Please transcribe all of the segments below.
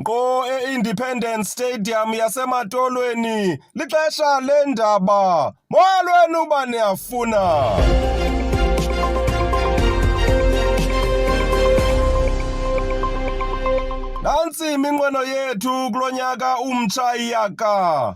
Ngqo e-Independence Stadium yaseMatolweni lixesha leendaba. Molweni uba niyafuna. Nantsi iminqweno yethu kulo nyaka umtsha iyaka.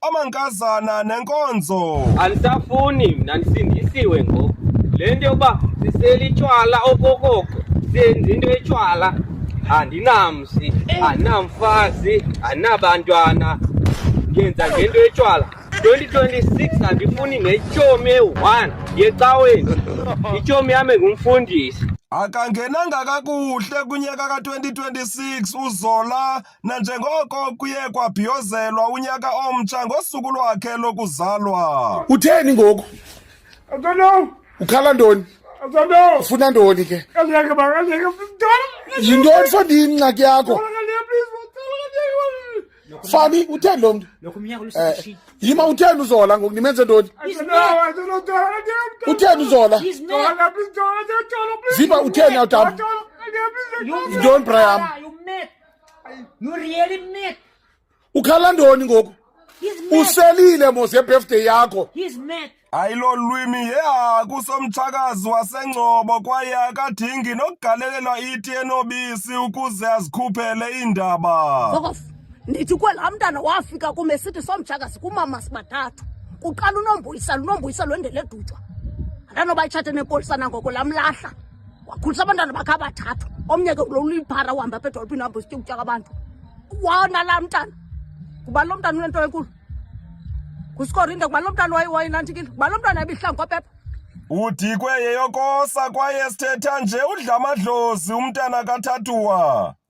amankazana nenkonzo. Andisafuni mna ndisindisiwe ngoku. Le nto yokuba siselitywala okokoko senza into etywala andinamsi andinamfazi andinabantwana ngenza ngento etywala 2026 andifuni netshomi eyi-one yecaweni itshomi yam engumfundisi akangenanga kakuhle kunyaka ka-2026 uzola nanjengoko kuye kwabhiyozelwa unyaka omtsha ngosuku lwakhe lokuzalwa. Utheni ngoku? I don't know. Ukhala ntoni? I don't know. Ufuna ntoni ke? Ngeke ba ngeke mntwana. Yintoni fandi ingxaki yakho? Fani utheni lo mntu? Lokho umnyaka ulusishini. Eh, yima utheni uzola ngoku nimenze ntoni? I don't know. I don't know. Don't know. Utheni uzola? He's not. Don't know. Please don't. Don't know. Please. Ziba utheni awutamba? Yintoni Brian? You met. Nuriyeli mad. Ukhala ndoni ngoku? He's mad. Uselile mos yebirthday yakho. He's mad. Hayi lo lwimi yehaku somtshakazi wasengcobo kwaye akadingi nokugalelelwa iti enobisi ukuze azikhuphele iindaba. Fuck off. Ndithi kwela mntana wafika kume sithi somtshakazi kumama sibathathu. Kuqala unombuyisela unombuyisela wendele dutshwa. Andanoba itshate nepolisa nangoko lamlahla. wakhulisa abantwana bakhe abathathu omnye ke ulo uliphara uhamba apha edolophini hamba usitya ukutya kwabantu wona laa mntana kuba lo mntana unento enkulu ngusikorinde kuba lo mntana wayenantikile kuba lo mntana ebihlangu kwapepa udikwe yeyokosa kwaye sithetha nje udla amadlozi umntana kathathuwa